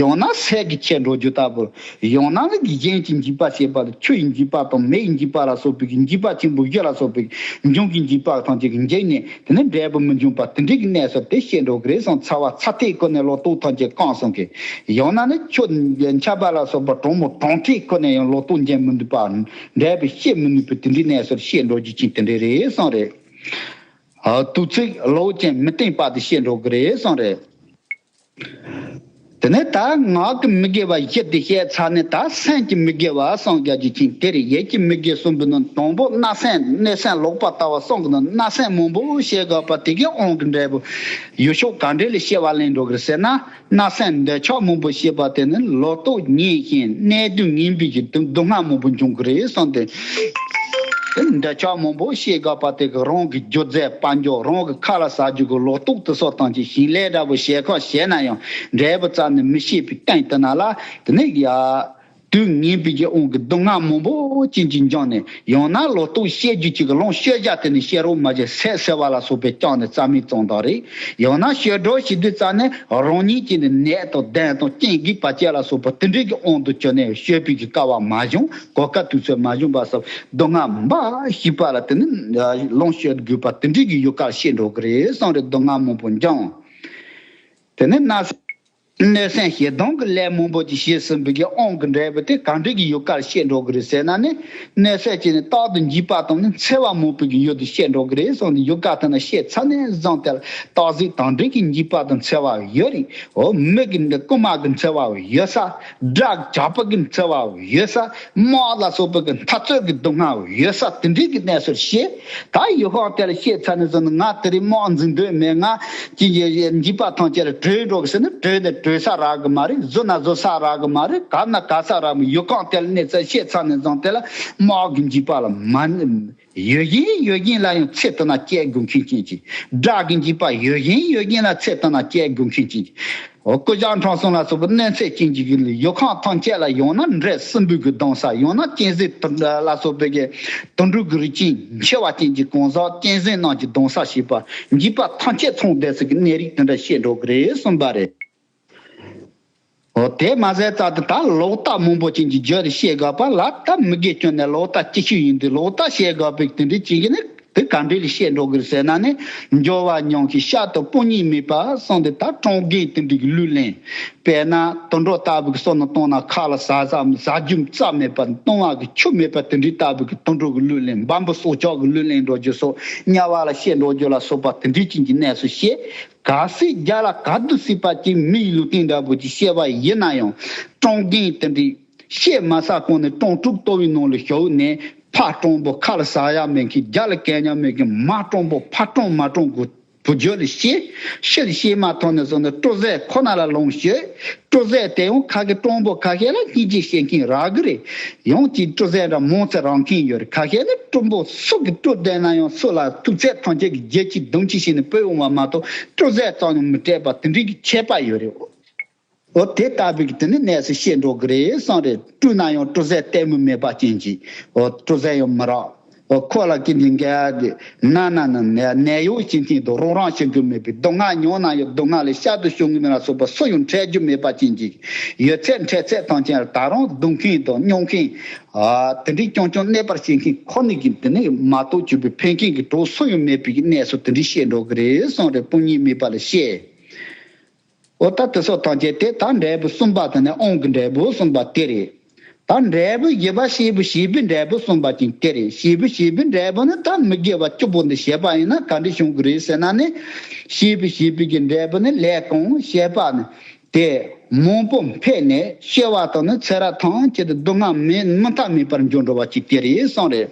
ཡང་ན་ཟས་ཀྱི་ཁྱད་འགྲོ་རྒྱུ་ལྟ་བུར་ཡང་ན་ལུས་ཀྱི་གཞན་གྱིས་འཇིགས་པར་བྱེད་པ་ལ་ཆུ་ཡི་འཇིགས་པ་དང་མེ་ཡི་འཇིགས་པ་ལ་སོགས་པའི་གིས་འཇིགས་པ་ཆེན་པོ་བཞི་ལ་སོགས་པའི་འབྱུང་གི་འཇིགས་པ་ཐམས་ཅད་ཀྱིས་འཇིགས་ནས་དེ་ནི་འབྲས་བུ་མི་འབྱུང་བར་དེ་འབྲས་ཀྱི་གནས་སོ་དེ་བཤད་འགྲོ་གི་རེད་བསམ་ཚར་བ་ཚ་ཐིག་ཁོ་ནས་ལོ་ཏོག་ཐམས་ཅད་བཀང་སོང་གི། ཡང་ན་ནི་ཁྱོད་འཆལ་པ་ལ་སོགས་པ་གྲང་མོ་གྲང་ཐིག་ཁོ་ནས་ཡང་ལོ་ཏོག་འབྱིན་མི་ནུས་པ་འབྲས་བུ་བཤད་མི་ནུས་པའི་དེ་འབྲས་གནས་སོ་བཤད་འགྲོ་རྒྱུ་ཅན་དེ་འདྲས་རེད་བསམ་རེད། དུས་ཚིགས་ལོ་ཅན་མི་བརྟན་པ་དེ་བཤད་འགྲོ་གི་རེད་བསམ་རེད། དེ་ནས་ད་ངག་གི་མི་དགེ་བ་བཞི་འདི་བཤད་ཚར་ནས་ད་སེམས་ཀྱི་མི་དགེ་བ་སངས་རྒྱ་རྒྱུ་ཅན་དེར་ཡིད་ཀྱི་མི་དགེ་གསུམ་པོ་ནི་དང་པོ་སྣ་སེམས་སྣོད་སེམས་ལོག་པར་ལྟ་བ་སངས་ནི་སྣ་སེམས་མང་པོ་བཤད་དགོས་པ་དེ་གའི་དབང་གི་འབྲས་བུ་ཡུལ་ཕྱོགས་ག་འདྲས་ལས་བཤད་བ་ལེན་འགྲོ་གི་ཟེར་ན་སྣ་སེམས་འདོད་ཆགས་མང་པོ་བཤད་པ་དེ་ནི་ལོག་རྟོག་ཉིད་བཞིན་གནས་བདུན་ངན་འབུས་ཀྱི་སྡུག་བསྔལ་མང་པོ་འབྱུང་གི་རེད་གསུངས་ཏེ། འདྲ་ཆགས་མང་པོ་ཤེས་དགོས་པ་དེ་གི་རང་གི་སྒྱུ་རྩལ་དཔལ་འབྱོར་རང་གི་ཁ་ལ་ཟ་རྒྱུ་གི་ལོག་རྟོག་དུ་གསོ་སྟངས་ཀྱི་ཞིང་ལས་འདྲ་པོ་ཞལ་ཁོག་བཞེས་ན་ཡང་འབྲས་བུ་རྩ་ནས་མི་ཤེས་པའི་སྟེང་དུ་ན་ལ་དུ་ནས་ཡ། དུས་ངན་པའི་རྒྱལ་དབང་གི་སྡུག་བསྔལ་མང་པོ་ཅན་གྱིས་འགྱངས་ནས་ཡང་ན་ལོག་རྟོག་བཤད་རྒྱུ་གཅིག་གི་ལོངས་སྤྱོད་བཞག་དེ་ནི་ཤེས་རོགས་མ་བྱེད་ཟས་ཟེར་བ་ལ་སོགས་པས་བསྐྱངས་ནས་རྩ་མེད་བཙོང་སྟངས་རེད་ཡང་ན་ཤེས་རོགས་བྱེད་དུས་རྩ་ནས་རང་ཉིད་ཀྱིས་ནི་ནད་དང་གདོན་དང་རྐྱེན་གིས་བར་ཆད་ལ་སོགས་པ་དེ་འདྲའི་གི་དབང་དུ་བྱོན་ནས་ཤོད་པའི་གི་སྐལ་བ་མ་བྱུང་གོ་དཀའ་དུས་ཚོད་མ་བྱུང་བ་སོགས་མདོ་སྔགས་འབའ་ཞིག་པ་ལ་དེ་ནི་ལོངས་སྤྱོད་དགོས་པ་དེ་འདྲའི་གི་ཡོད་ཁར་བཤད་འགྲོ་གི་རེད་བསམ་རེད་མདོ་སྔགས་མང་པོ་འགྱངས། དེ་ནས་གནའ་སྔའི་སེང་ཞེ་སྡང་གི་ལས་མང་པོ་ཅིག་བྱས་ཟིན་པའི་གི་ཨང་གི་འབྲས་བུ་དེ་གང་འདྲའི་གི་ཡོད་ཁར་བཤད་འགྲོ་གི་རེད་ཟེར་ན་ནི་གནས་སད་བྱས་ནས་རྟག་ཏུ་འཇིགས་པ་དང་ནི་འཚེ་བ་མང་པོའི་གི་ཡོད་དུ་བཤད་འགྲོ་གི་རེད་བསམ་ནས་ཡོད་ཁ་དེ་ནི་བཤད་ཚར་ནས་བཟང་ཐལ་སྟག་གཟིག་གང་འདྲའི་གི་འཇིགས་པ་དང་འཚེ་བ་ཡོད་རིགས་འོ་མི་གི་འདི་རྐུན་མ་གི་འཚེ་བ་ཡོད་ས། སྦྲགས་བྱ་སྤུ་གི་འཚེར་བ་ཡོད་ས་དམག་ལ་སོགས་སྤུ་གི་མཐའ་རྩོད་ཀྱི་སྡུག་བསྔལ་ཡོད་ས་དེ་འདྲའི་གི་གནས་སུ་ཤེས། ད་ཡུལ་ཁོག་དེར་ཤེས་ཚར་ནས་བཟུང་ང་དེ་རིང་དམག་འཛིང་འདོད་མེད་ང། ཅི་ཡི་འཇིགས་པ་ཐང་ཆད་ལ་བྲོས་འགྲོ་གི་ཟེར་ན་བྲོས་ནས་བྲོས་ས་རག་གི་མ་རེད་བཟོ་ན་བཟོ་ས་རག་གི་མ་རེད་གར་ན་གར་ས་རག་གི་མ་ཡུལ་ཁོག་དེར་གནས་ཚད་ཤེས་ཚར་ནས་བཟུང་དེ་ལ་དམག་གི་འཇིགས་པ་ལ་མ། ཡོད་བཞིན་ཡོད་བཞིན་ལ་ཡང་ཚད་དོ་ན་དཔྱད་དགོས་མཁན་ཅན་གྱི་སྒྲ་གི་འཇིག་པ་ཡོད་བཞིན་ཡོད་བཞིན་ལ་ཚད་དོ་ན་དཔྱད་དགོས་མཁན་ཅན་གྱི་སྐུ་བཞག་འཕྲང་སོང་ལ་སོགས་པའི་གནས་ཚད་ཅན་གྱི་ཡོད་ཁང་ཐམས་ཅད་ལ་ཡང་ན་འབྲས་སྲིན་འབུས་ཀྱི་གདང་ས་ཡང་ན་གཅན་གཟན་དུར་འདྲ་ལ་སོགས་པའི་དུར་འབྲུག་གི་རིགས་ཅན་མཆེ་བ་ཅན་གྱི་གང་ཟག་གཅན་གཟན་རྣམས་ཀྱི་གདང་ས་ཞེས་པ་འཇིག་པ་ཐམས་ཅད་ཚང་བསྡད་ཚུལ་གྱི་གནས་རིགས་དེ་འདྲ་བཤད་འགྲོ་གི་རེད་གསུངས་པ་རེད། འོ་དེས་མ་ཟད་རྩ་དེ་དག་ལོག་ལྟ་མང་པོ་ཅན་གྱིས་བརྗོད་དེ་བཤད་དགོས་པ་ལ་སྟབས་མི་དགོས་སྐྱོན་ནི་ལོག་ལྟ་ཅིག་ཤོས་ཡིན་དུས་ལོག་ལྟ་བཤད་དགོས་པའི་དེ་འདྲའི་བྱེད་ཀྱི་ནི་དེ་ག་འདྲས་ལས་བཤད་འགྲོ་དགོས་ཟེར་ན་ནི་འགྱོ་བ་མྱོང་ཞིང་ཤ་དང་སྤུ་གཉིས་མེད་པར་སོང་དེ་དག་ཀྲོང་རྒན་དེ་འདྲས་ཀྱི་ལུས་ལེན་དཔེ་ན་དུད་འགྲོ་ལྟ་བུ་གི་སོ་ནི་བཏང་ན་ཁ་ལ་ཟ་བསམ་ཟ་རྒྱུ་རྩ་མེད་པར་བཏུང་བ་གི་ཆུ་མེད་པ་དེ་འདྲས་ལྟ་བུ་གི་དུད་འགྲོ་གི་ལུས་ལེན་འབའ་འབུ་སྲོག་ཆགས་ཀྱི་ལུས་ལེན་འགྲོ་རྒྱུ་སོགས་དམྱལ་བ་ལ་བཤད་འགྲོ་རྒྱུ་ལ་སོགས་པ་དེ་འདྲས་ཅན་གྱི་གནས་སུ་བཤད་ག་སྲིད་རྒྱ་ལ་ག་དུ་སྲིད་པ་ཅིག་མིའི་ལུས་སྟེང་འདྲ་བུ་ཅིག་བཤད་པ་ཡིན་ན་ཡང་སྤྲང་རྒན་དེ་འདྲས་བཤད་མ་ས་གང་ནས་སྤྲང་ཕྲུག་ལྟོ་བའི་ནང་ལ་ཞོག་ནས་ཕ་སྤྲང་པོ་ཁ་ལ་ཟ་ཡ་མེད་མཁན་རྒྱ་ལ་གད་སྙ་མེད་མཁན་མ་སྤྲང་པོ་ཕ་སྤྲང་མ་སྤྲང་གོ་བོ་ཇོ་ལ་བཤད་ཤི་ལ་བཤད་མ་ཐོག་ནས་སོང་ནས་སྤྲོ་ཟད་ཁོ་ན་ལ་ལོངས་ཤིག། སྤྲོ་གསལ་རྟེན་དབུ་ཁག་གི་གྲོང་པོ་ཁ་ཤས་ལ་གཉིས་གཅིག་བཤད་མཁན་རག་གི་རེད། ཡང་གཅིག་སྤྲོ་གསལ་འདྲ་མོང་ཚེ་རག་མཁན་ཡོད་རེད་ཁ་ཤས་ནི་གྲོང་པོ་སུ་གི་སྤྲོ་བསྡད་ན་ཡང་སུ་ལ་ཐུག་ཚད་ཐང་ཆད་གི་རྒྱལ་སྤྱིའི་སྡོམ་ཁྱི་ཞིག་ནས་བོས་འོང་བ་མ་གཏོགས་སྤྲོ་གསལ་ཙམ་ཡང་མི་སྤྲད་པ་དེ་འདྲའི་གི་ཁྱད་པར་ཡོད་རེད། འོ་དེ་ལྟ་བུའི་གི་དེ་ནི་གནས་སུ་བཤད་འགྲོ་གི་རེད་བསམ་རེད་སྤྲོ་ན་ཡང་སྤྲོ་གསལ་ལྟད་མོ་མེད་པ་ཅན་གྱིས་འོ་སྤྲོ་གསལ་ཡང་མི་རག། ཁོ་ལ་ཀི་འདི་འགའ་དེ། ན་ན་ན་ན་ནད་གཡོག་སྤྱི་མཐུན་དུ་རོགས་རང་བྱེད་རྒྱུ་མེད་པའི་སྡུག་བསྔལ་མྱོང་ན་ཡང་སྡུག་བསྔལ་ལས་ཤར་དུ་བྱུང་གི་མེད་ལ་སོགས་པ་སུ་ཡང་འཕྲད་རྒྱུ་མེད་པ་ཅན་གྱི་ཡོད་ཚད་འཕྲད་ཚད་ཐང་ཆེན་ལ་ད་རུང་སྡུག་མཁན་དང་སྨྱོ་མཁན། དེ་འདྲའི་ཀྱང་ཀྱང་གནས་པར་བྱེད་མཁན་ཁོ་ནི་ཀི་འདི་ནས་མ་གཏོགས་གྱོད་པའི་ཕན་མཁན་གྱི་གྲོགས་སུ་ཡང་མེད་པའི་གནས་སུ་དེ་འདྲའི་བཤད་འགྲོ་གི་རེད་སོང་རེད་སྤུན་གཉིས་མིད་པ་ལ་བཤད། ཨོ་ད་དེ་སོགས་ཐམས་ཅད་དེ་དང་འབྲས་བུ་གསུམ་པ་དང་ནི་ཨོང་གི་འབྲས་བུ་གསུམ་པ་དེ་རེད། ད་འབྲས་བུ་བཞི་པ་བྱེད་པོ་བྱེད་པོའི་འབྲས་བུ་གསུམ་པ་ཅིང་དེ་རེད་བྱེད་པོ་བྱེད་པོའི་འབྲས་བུ་ནི་ད་མི་དགེ་བ་བཅུ་པོ་འདི་བྱེད་པ་ཡིན་ན་ག་འདྲའི་བྱུང་གི་རེད་ཟེར་ན་ནི། བྱེད་པོ་བྱེད་པོའི་གི་འབྲས་བུ་ནི་ལས་གང་བྱེད་པ་ནི། དེ་མང་པོ་འཕེལ་ནས་ཤེས་བ་དང་ནི་ཚེ་རབས་ཐམས་ཅད་དུ་སྡུག་བསྔལ་མི་མཐའ་མེད་པར་འབྱུང་འགྲོ་བ་ཅིག་དེ་རེད་གསུངས་རེད།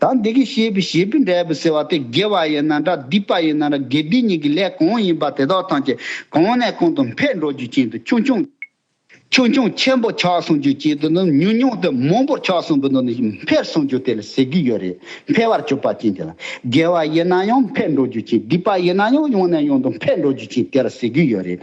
ད་འདི་གི་ཤེས་པའི་ཞེས་པའི་འབྲས་བུ་ཟེར་བ་དེ་དགེ་བ་ཡིན་ན་འདྲ་སྡིག་པ་ཡིན་ན་འདྲ་དགེ་སྡིག་གཉིས་ཀྱི་ལས་གང་ཡིན་པ་དེ་དག་ཐམས་ཅད་གང་ནས་གང་དུ་འཕེལ་འགྲོ་རྒྱུ་ཅན་དུ་ཆུང་ཆུང་ཆུང་ཆུང་ཆེན་པོ་ཆགས་སོང་རྒྱུ་ཅན་དུ་ནི་ཉུང་ཉུང་དུ་མང་པོར་ཆགས་སོང་གི་ནི་འཕེལ་སོང་རྒྱུ་དེ་ལ་ཟེར་གྱི་ཡོད་རེད་འཕེལ་བར་གྱུར་པ་ཅན་དེ་ལ་དགེ་བ་ཡིན་ན་ཡང་འཕེལ་འགྲོ་རྒྱུ་ཅན་སྡིག་པ་ཡིན་ན་ཡང་ཡང་ནས་ཡང་དུ་འཕེལ་འགྲོ་རྒྱུ་ཅན་དེ་ལ་ཟེར་གྱི་ཡོད་རེད།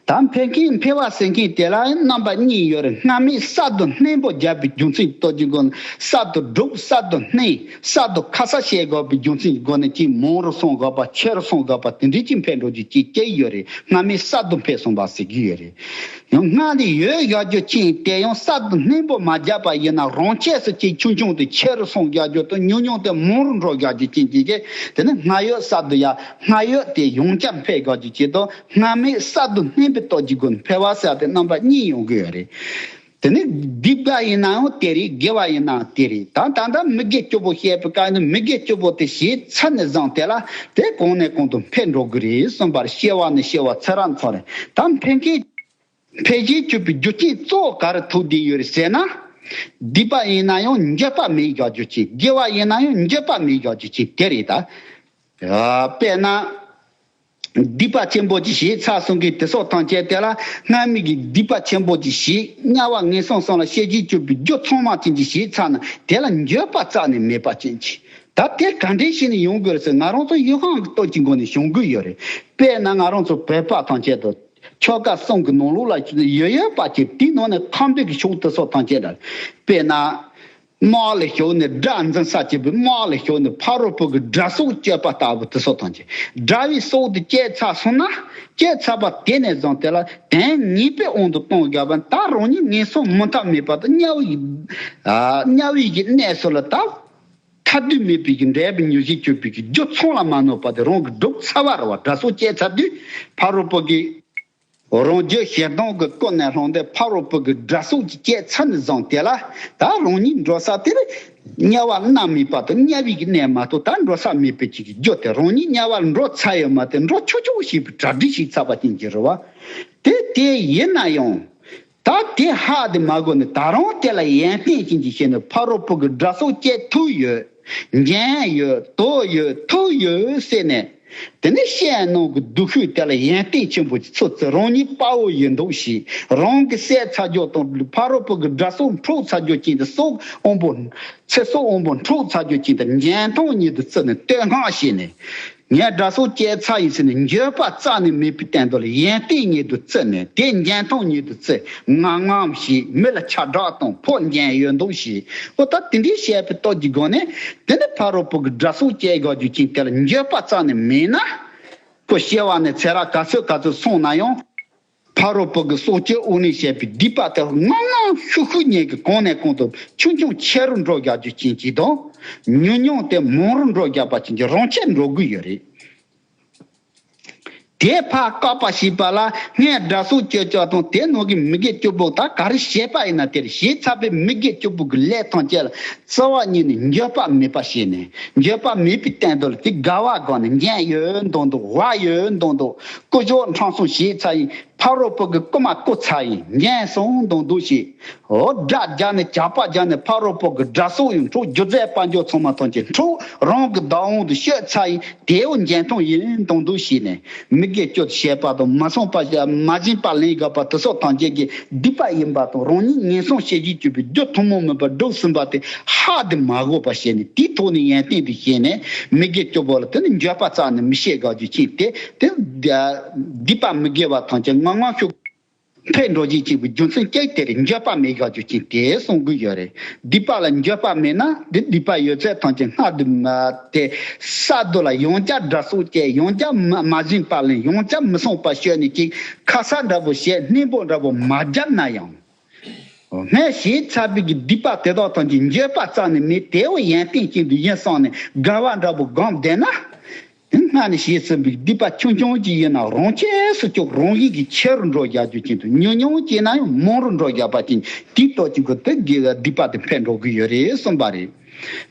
དང་འཕེལ་མཁན་འཕེལ་བ་ཟེར་མཁན་དེ་ལ་རྣམ་པ་གཉིས་ཡོད་རེད་སྔ་མས་གསར་དུ་གནས་སྤོ་རྒྱག་པའི་རྒྱུ་མཚན་གཏོད་ཀྱི་སྒོ་ནས་གསར་དུ་བསྒྲུབ་གསར་དུ་གནས་གསར་དུ་ཁ་གསལ་བྱེད་དགོས་པའི་རྒྱུ་མཚན་གྱི་སྒོ་ནས་ཆེས་མང་རུ་སོང་དགོས་པ་ཆེ་རུ་སོང་དགོས་པ་དེ་འདྲའི་ཆེད་འཕེལ་འགྲོ་རྒྱུ་གཅིག་སྐྱེ་ཡི་ཡོད་རེད་སྔ་མས་གསར་དུ་འཕེལ་སོང་པ་ཟེར་གྱི་ཡོད་རེད། ཡང་སྔ་ལས་ཡོད་བཞག་རྒྱུ་མཁྱེན་དེ་ཡང་གསར་དུ་གནས་སྤོ་མ་རྒྱག་པ་ཡིན་ན་རང་ཆས་སུ་ཆེས་ཆུང་ཆུང་དུ་ཆེ་རུ་སོང་རྒྱག་རྒྱུ་དང་ཉུང་ཉུང་དུ་མང་རུ་འགྲོ་རྒྱག་རྒྱུ་མཁྱེན་གྱི་རེད་དེ་ནི་སྔ་ཡོད་གསར་དུ་ཡར་སྔར་ཡོད་དེ་ཡོངས་ཁྱབ་འཕེལ་རྒྱས་ཀྱི་བྱེད་ཐབས་སྔར་མེད་གསར་དུ་སྣེ་འབུད་གཏོད་ཀྱི་སྒོས་འཕེལ་བ་གསར་པའི་རྣམ་པ་གཉིས་ཡོང་གི་ཡོད་རེད། དེ་ནི་སྡིག་པ་ཡིན་ནའང་དེ་རེད་དགེ་བ་ཡིན་ནའང་དེ་རེད་ད་ད་ལྟ་མི་དགེ་སྐྱོ་པོ་བཤད་པའི་སྐབས་ནི་མི་དགེ་སྐྱོ་པོ་དེ་ཞེས་ཚ་ནས་བཟང་དེ་ལ་དེ་གོང་ནས་གོང་དུ་འཕེལ་འགྲོ་གི་རེད་གསུངས་པར་བཤད་བ་ནི་བཤད་བ་ཚེ་རང་ཚོ་རེད་ད་འཕེལ་མཁན་ཕལ་ཆེར་སྤྱོད་པའི་རྒྱུ་རྐྱེན་གཙོ་བོ་ག་རུ་ཐུག་བསྡད་ཡོད་རེད་ཟེར་ན། སྡིག་པ་ཡིན་ན་ཡང་འགྱོད་པ་མེད་བཞག་རྒྱུ་གཅིག་དགེ་བ་ཡིན་ན་ཡང་འགྱོད་པ་མེད་བཞག་རྒྱུ་གཅིག་དེ་རེད་ད། དཔེར་ན། སྡིག་པ་ཆེན་པོ་ཅིག་ཞིག་ཚར་སོང་གིས་དེ་སྲོག་ཐང་བཅད་དེ་ལ་སྔར་མེད་ཀྱི་སྡིག་པ་ཆེན་པོ་ཅིག་ཞིག་དམྱལ་བ་ངན་སོང་སོང་ལ་ཤེས་ཀྱིན་སྤྱོད་པའི་རྒྱུ་ཚང་མ་ཅན་ཅིག་ཞིག་ཚར་ན་དེ་ལ་འགྱོད་པ་རྩ་ནས་མེད་པ་ཅན་གཅིག་ད་དེ་ག་འདྲའི་ཞིག་ནས་ཡོང་དགོས་རེད་ཟེར་ང་རང་ཚོ་གཡོ་ཁང་གི་སྟོད་ཀྱི་མགོ་ནས་བྱུང་གི་ཡོད་རེད་དཔེར་ན་ང་རང་ཚོ་བོད་པ་ཐང་ཆད་དུ། ཆོ་ག་གསུམ་གྱི་ནང་ལུགས་ལ་ཡོད་ཡོད་པ་གཅིག་དེའི་ནང་ནས་ཁམས་བོད་ཀྱི་ཕྱོགས་དུ་སོགས་ཐང་ཆད་འདྲ། དཔེར་ན། དམག་ལ་ཞོག་ནས་སྒྲ་འཛིན་ས་བྱེད་པའི་དམག་ལ་ཞོག་ནས་ཕ་རོལ་པོ་གི་སྒྲ་སོགས་སྤྱོད་པ་ལྟ་བུ་དུ་སོགས་ཐང་ཆད་འདྲ་བའི་སྲོག་ཏུ་བསྐྱེད་ཚར་སོང་ན། བསྐྱེད་ཚར་བ་དེ་ནས་བཟུང་དེ་ལ་དོན་ངེས་པའི་དབང་དུ་གཏོང་དགོས་པ་ནི་ད་རང་ཉིད་ངན་སོང་མུ་མཐའ་མེད་པ་དང་དམྱལ་བའི་དམྱལ་བའི་གནས་སུ་ལ་དྭགས། ཐ་དུས་མེད་པའི་འདས་པའི་མྱུ་གཞི་གྱུར་པའི་སྒྱུ་འཚོང་ལ་མ་གནོད་པ་དེ་རང་གི་སྒྲུབ་ཚ་བ་རུ་བ་དགྲ་སྲོག་བཅད་ཚར་དུས་ཕ་རོལ་པོ་གི་རང་རྒྱུད་ཞེ་སྡང་གི་ཀུན་ནས་ལྷུང་སྟེ་ཕ་རོལ་པོ་གི་དགྲ་སྲོག་ཅིག་བཅད་ཚར་ནས་བཟུང་དེ་ལ་ད་རང་ཉིད་འགྲོ་ས་དེར་དམྱལ་བར་སྣང་མེད་པ་དང་དམྱལ་བའི་གནས་མ་གཏོགས་ད་འགྲོ་ས་མེད་པའི་ཆེད་ཀྱི་རྒྱུ་དེ་རང་ཉིད་དམྱལ་བར་འགྲོ་ཚར་ཡོད་མ་དེ་འགྲོ་ཆོག་ཆོག་གོ་ཞེས་པའི་གྲ་སྒྲིག་ཞིག་ཚར་བ་ཅན་གྱི་རུ་བ་དེ་དེ་ཡིན་ན་ཡང་ད་དེ་ཧ་དེ་མ་དགོས་ནས་ད་རུང་དེ་ལ་ཡན་ཏན་ཅན་གྱི་ཞེས་ནི་ཕ་རོལ་པོ་གི་སྒྲ་སོགས་སྐྱེ་ཐུག་ཡོད། འཇན་ཡོད་དོ་ཡོད་ཐུག་ཡོད་སེ་ནས། དེ་ནི་ཤེས་ཡན་ནང་གི་སྡུག་ཤོས་དེ་ལ་ཡན་ཏན་ཆེན་པོ་ཀྱི་ཚོད་ཚོད་རང་ཉིད་དཔའ་བོ་ཡིན་འདུག་ཞེས་རང་གི་སའི་ཚ་རྒྱོ་དང་ཕ་རོལ་པོ་གི་སྒྲ་སོགས་འཕྲོག་ཚ་རྒྱོ་ཅན་དེ་སོག་དབོན་པོ། ཚེ་སོག་དབོན་པོ་འཕྲོག་ཚ་རྒྱོ་ཅན་དེ་འཇན་ཐང་གཉིས་དུ་བརྩི་ནས་བསྟོད་བསྔགས་བྱས་ནས། ངས་སྒྲ་སོགས་སྐྱེས་ཚ་ཡི་ཚེ་ནས་འགྱོད་པ་རྩ་ནས་མེད་པའི་གཏན་དོ་ལ་ཡན་ཏན་ཉིད་དུ་བརྩི་ནས་དེ་འགྱན་ཐང་ཉིད་དུ་བརྩི་ང་ངམ་ཞེས་མི་ལ་ཆ་བསྒྲགས་དང་ཕོ་འགྱན་ཡོད་མདོག་བྱས་ཨོ་ད་དེ་འདྲའི་བཤད་པའི་སྟོབས་ཀྱི་སྒོ་ནས་དེ་ནས་ཕ་རོལ་པོ་གི་སྒྲ་སོགས་སྐྱེས་དགའ་རྒྱུ་ཅན་དེ་ལ་འགྱོད་པ་རྩ་ནས་མེད་ན། ཁོ་སྐྱེ་བ་ནས་ཚེ་རག་ག་ཚོད་ག་ཚོད་སོང་ན་ཡང། ཕ་རོལ་པོ་གི་སྲོག་གཅོད་དབུ་ནས་བཤད་པའི་སྡིག་པ་དེ་དབང་ལམ་ཤུགས་ཤུགས་ཉེས་ཀྱི་གོང་ནས་གོང་དུ་ཆུང་ཆུང་ཆེ་རུ་འགྲོ་རྒྱག་རྒྱུ་ཅན་གྱིས་དང། ཉུང་ཉུང་དེ་མང་རུ་འགྲོ་རྒྱག་པ་ཅན་གྱིས་རང་ཆད་འགྲོ་དགོས་ཡོད་རེད། དེ་ཕ་བཀག་པ་ཞིག་པ་ལ་ངས་དགྲ་སྲོག་གཅོད་ཅོག་དང་དེ་ནང་གི་མི་དགེ་བཅུ་པོ་དག་ག་རེ་བྱས་པ་ཡིན་ན་དེར་གཞས་ཚ་པའི་མི་དགེ་བཅུ་པོ་གི་ལས་ཐམས་ཅད་ལ་བརྩེ་བ་ཉིད་ནས་འགྱོད་པ་མེད་པ་བྱས་ནས་འགྱོད་པ་མེད་པའི་བསྟན་དོལ་གྱི་དགའ་བ་དགའ་ནས་འགན་ཡོད་འདོང་འདོག་བག་ཡོད་འདོང་འདོག་སྐུ་གཞོགས་མཁྲང་སོང་བྱས་ཚར་ཡིན། ཕ་རོལ་པོ་གི་རྐུ་མ་རྐུ་ཚར་ཡིན། ངན་སོང་མདོག་མདོག་བྱས། འོ་དགྲ་རྒྱག་ནས་ཇག་པ་རྒྱག་ནས་ཕ་རོལ་པོ་གི་དགྲ་སྲོག་ཡང་འཕྲོག་སྒྱུ་རྩལ་དཔའ་འཇོག་ཚང་མ་ཐོན་སྐྱེ་འཕྲོག་རང་གི་བདག་དབང་དུ་བཤོད་ཚར་ཡིན། དེའོ་འགྱན་ཐོང་ཡིན་མདོག་མདོག་བྱས་ནས། མི་དགེ་སྤྱོད་བྱས་པ་དང་མ་སོང་པ་བྱས་མ་བྱིན་པ་ལན་བརྒྱག་པ་དེ་སོགས་ཐམས་ཅད་ཀྱི་སྡིག་པ་ཡིན་པ་དང་རང་ཉིད་ངན་སོང་ཤེས་བཞིན་སྤྱོད་པའི་རྒྱུ་ཐུན་མོང་མིན་པར་སྒྲུབ་ཟིན་པ་དེ་ཧ་དེ་མ་གོ་བར་བྱས་ནས་དེའི་ཐོག་ནས་ཡན་ཏན་དུ་བྱས་ནས་མི་དགེ་སྤྱོད་པོ་ལ་དེ་ནི་འགྱོད་པ་རྩ་ནས་མི་བྱེད་དགའ་སྤྱོད་ཕྱིན་ཏེ་དེ་སྡིག་པ་མི་དགེ་བ་ཐམས་ཅད་ངང་ངང་ཤུགས། འཕེལ་འགྲོ་བཞིན་གཅིག་པུའི་རྒྱུ་མཚན་ཅི་དེར་འགྱོད་པ་མེད་ཤོག་རྒྱུ་རྐྱེན་དེ་གསུངས་དགོས་ཡོད་རེད། སྡིག་པ་ལ་འགྱོད་པ་མེད་ན་དེ་སྡིག་པ་ཡོད་ཚད་ཐམས་ཅད་སྔགས་བདུན། དེ་ས་རྡོ་ལ་ཡང་བསྐྱར་སྒྲ་གསུངས་བཅས་ཡང་བསྐྱར་མ་བཞེངས་པ་ལས་ཡང་བསྐྱར་མི་གསུངས་པར་ཤོད་ནས་ཅིག་ཁ་ས་འདྲ་བོ་ཞེས་སྣེ་འབོག་འདྲ་བོ་མ་བརྒྱབ་ན་ཡང། སྔས་ཞེས་བྱ་བས་ཀྱི་སྡིག་པ་དེ་དག་དང་ཀྱི་འགྱོད་པ་རྩ་ནས་མེད་དེའོ་ཡན་ཏན་ཅན་དུ་ཡིན་བསམས་ནས་དགའ་བ་འདྲ་བོ་སྒོམ་བསྡད་ན། སྔ་ནས་བྱས་ཟིན་པའི་སྡིག་པ་ཆུང་ཆུང་ཅིག་ཡིན་ན་རང་ཆས་སུ་སྐྱོབ་རང་བཞིན་གྱིས་ཆེ་རུ་འགྲོ་བཞག་རྒྱུ་ཅན་དུ་ཉུང་ཉུང་སྐྱེས་ན་ཡང་མང་རུ་འགྲོ་བཞག་པ་ཅན་དེའི་ཏོག་གཅིག་གི་དུས་དགེ་བའི་སྡིག་པ་དེ་འཕེལ་འགྲོ་གི་ཡོད་རེད་གསུངས་པ་རེད།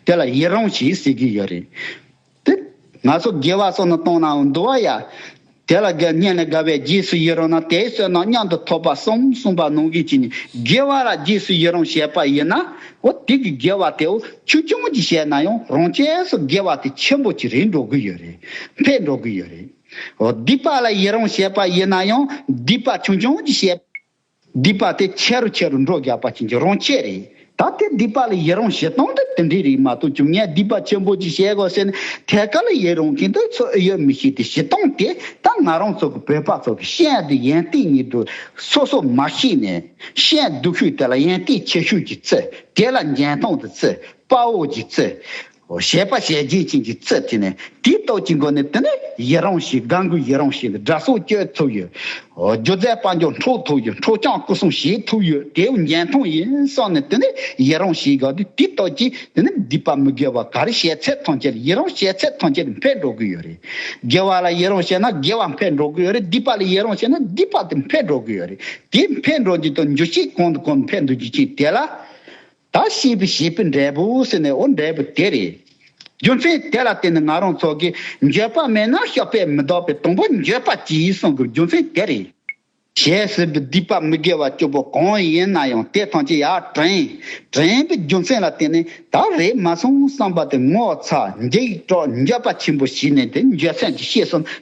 དེ་ལ་ཡི་རང་ཞེས་ཟེར་གྱི་ཡོད་རེད། ཏེ། ན་ཚོད་དགེ་བ་སོགས་ནི་གཏོང་ནའང་འདུ་བ་ཡ། དེ་ལ་དགེ་བསྙེན་ལས་དགའ་བའི་རྗེས་སུ་ཡི་རུང་ན་དེའི་བསོད་ནམས་མཉམ་དུ་ཐོབ་པ་གསུམ་གསུངས་པ་ནང་བཞིན་གྱིས་ནི་དགེ་བ་ལ་རྗེས་སུ་ཡི་རུང་བྱེད་པ་ཡིན་ན། འོ་དེ་གི་དགེ་བ་དེའོ་ཆུ་ཆུང་གཅིག་བྱས་ན་ཡང་རང་ཆས་སུ་དགེ་བ་དེ་ཆེན་པོ་གཅིག་རེ་འགྲོ་དགོས་ཡོད་རེད་འཕེལ་འགྲོ་དགོས་ཡོད་རེད། འོ་སྡིག་པ་ལ་ཡི་རུང་བྱེད་པ་ཡིན་ན་ཡང་སྡིག་པ་ཆུང་ཆུང་གཅིག་བྱས། སྡིག་པ་དེ་ཆེ་རུ་ཆེ་རུ་འགྲོ་རྒྱག་པ་བྱིན་གྱིས་རང་བསྐྱེད་རེད། ད་ལྟའི་སྡིག་པ་ལ་ཡི་རང་བྱེད་སྟངས་དེ་དེ་འདྲས་རེད་མ་གཏོགས་བྱུང་ངའི་སྡིག་པ་ཆེན་པོ་ཅིག་བྱས་དགོས་ཟེར་ནས་ཐད་ཀར་ལ་ཡི་རང་གིན་དུ་འཚོ་ཨེ་ཡོད་མི་ཤེས་ཏེ་བྱེད་སྟངས་དེ་ད་ང་རང་ཚོ་གི་བོད་པ་ཚོ་གི་ཤེས་ཡོན་དེ་ཡན་ཏིག་ཉིད་དུ་སོ་སོ་མ་ཤེས་ནས་ཤེས་ཡོན་སྡུག་ཤོས་དེ་ལ་ཡན་ཏིག་ཆེ་ཤོས་ཀྱི་རྩི་དེ་ལ་འགྱན་སྟངས་དེ་རྩི་དཔའ་བོ་ཀྱི་རྩི་བཤད་པ་བཤད་རྗེས་བྱིན་གྱིས་བརྩེ་བྱས་ནས་དེའི་རྟོགས་ཀྱི་སྒོ་ནས་དེ་ནས་ཡི་རང་ཞེས་དགའ་མགུའི་ཡི་རང་ཞེས་སྒྲ་སོགས་བསྐྱོད་ཐུབ་ཡོད། སྒྱུ་རྩལ་དཔལ་འབྱོར་འཕྲོག་ཐུབ་ཡོད་འཕྲོག་བྱང་སྐུ་གསུང་བྱེད་ཐུབ་ཡོད་དེ་འོ་རྒྱན་ཐང་ཡིན་སོགས་ནས་དེ་ནས་ཡི་རང་ཞེས་དགའ་དུས་དེའི་རྟོགས་ཀྱིས་དེ་ནས་སྡིག་པ་མི་དགེ་བ་ག་རེ་བཤད་ཚད་ཐོངས་ཆེར་ཡི་རང་བཤད་ཚད་ཐོངས་ཆེར་འཕེལ་འགྲོ་གི་ཡོད་རེད། དགེ་བ་ལ་ཡི་རང་བཤད་ན་དགེ་བ་འཕེལ་འགྲོ་གི་ཡོད་རེད་སྡིག་པ་ལ་ཡི་རང་བཤད་ན་སྡིག་པ་དེ་འཕེལ་འགྲོ་གི་ཡོད་རེད་དེ་འཕེལ་འགྲོ་རྒྱུ་དང་འགྱུར་ཕྱིར་གོང་དུ་གོང་དུ་འཕེལ་འགྲོ་རྒྱུ་ཅིག་དེ་ལ། ད་ཤེས་པའི་བྱེད་པོའི་འབྲས་བུ་ཟེར་ནས་འོ་འབྲས་བུ་དེ་རེད། རྒྱུ་མཚན་དེ་ལ་བརྟེན་ནས་ང་རང་ཚོ་གིས་འགྱོད་པ་མེད་ན་ཤོག་པས་མི་ལྡོག་པའི་དང་པོ་འགྱོད་པ་གྱིས་གསུང་དགོས་རྒྱུ་མཚན་དེ་རེད། ཞེས་ཟེར་བའི་སྡིག་པ་མི་དགེ་བ་བཅུ་པོ་གང་ཡིན་ན་ཡང་དེ་ཐམས་ཅད་ཡར་དྲན། དྲན་པའི་རྒྱུ་མཚན་ལ་བརྟེན་ནས་ད་རེས་མ་སོང་བསམ་པ་དེ་ངོ་ཚ་འཇིགས་སྐྲག་འགྱོད་པ་ཆེན་པོ་བྱས་ནས་དེ་འགྱོད་སེམས་ཀྱི་ཤེས་གསུམ་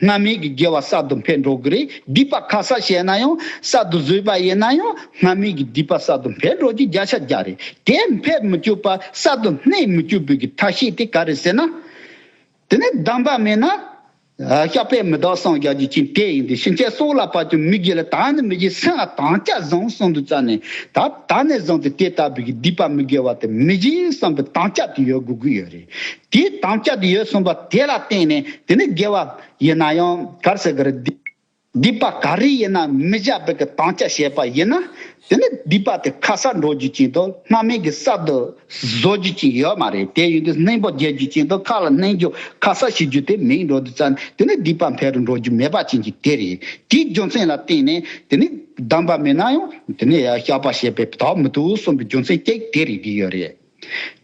སྔ་མའི་གི་དགེ་བ་གསར་དུ་འཕེལ་འགྲོ་གི་རེད་སྡིག་པ་ཁ་གསལ་བཤད་ན་ཡང་གསར་དུ་བཟོས་པ་ཡིན་ན་ཡང་སྔ་མའི་གི་སྡིག་པ་གསར་དུ་འཕེལ་འགྲོ་རྒྱུ་བརྒྱ་ཆ་བརྒྱ་རེད་དེ་འཕེལ་མི་བཅུག་པ་གསར་དུ་སྣེ་མི་བཅུག་པའི་གི་ཐབས་ཤེས་དེ་ག་རེད་ཟེར་ན། དེ་ནས་གདམས་པ་མེད་ན། ཤ་པའི་མི་དག་སངས་རྒྱ་ཇི་བྱིན་དེ་ཡིན་ཏེ་ཕྱིན་ཆད་སྲོག་ལ་བབ་ཀྱང་མི་དགེ་ལ་དྭངས་ནས་མི་དགེ་སེམས་ལ་དྭངས་སྐྱ་བཟང་གསུམ་དུ་བཙལ་ནས་ད་ད་ནས་བཟུང་སྟེ་དེ་ལྟ་བུའི་གི་སྡིག་པ་མི་དགེ་བ་དེ་མི་བྱེད་བསམ་པའི་དྭངས་སྐྱ་དེ་ཡོད་དགོས་ཀྱི་ཡོད་རེད། དེའི་དམ་བཅའ་དེ་ཡོད་གསུངས་པ་དེ་ལ་བརྟེན་ནས་དེ་ནི་དགེ་བ་ཡིན་ན་ཡང་གར་སེ་གར་སྡིག་སྡིག་པ་ག་རེ་ཡིན་ན་མི་བཞག་པའི་གི་དམ་བཅའ་བྱས་པ་ཡིན་ན་དེ་ནི་སྡིག་པ་དེ་ཁ་གསབ་འགྲོ་རྒྱུ་ཅན་དང་སྣ་མའི་གི་གསབ་དུ་བཟོ་རྒྱུ་ཅན་ཡོད་མ་རེད་དེ་ཡོན་ཏན་སྣེན་པོ་རྒྱས་རྒྱུ་ཅན་དང་ཁ་ལ་སྣེན་རྒྱུ་ཁ་གསབ་བྱེད་རྒྱུ་དེ་མིང་འགྲོ་དུ་བཙལ་ནས་དེ་ནི་སྡིག་པ་འཕེལ་རུ་འགྲོ་རྒྱུ་མེད་པ་ཅན་གྱི་དེ་རེད་དེའི་རྒྱུ་མཚན་ལ་བརྟེན་ནས་དེ་ནི་གདམས་པ་མིན་ན་ཡང་དེ་ནི་ཡང་བཤགས་པ་བྱས་པས་དག་མི་ཐུབ་གསུངས་པའི་རྒྱུ་མཚན་གཅིག་དེ་རེད་གི་ཡོད་རེད།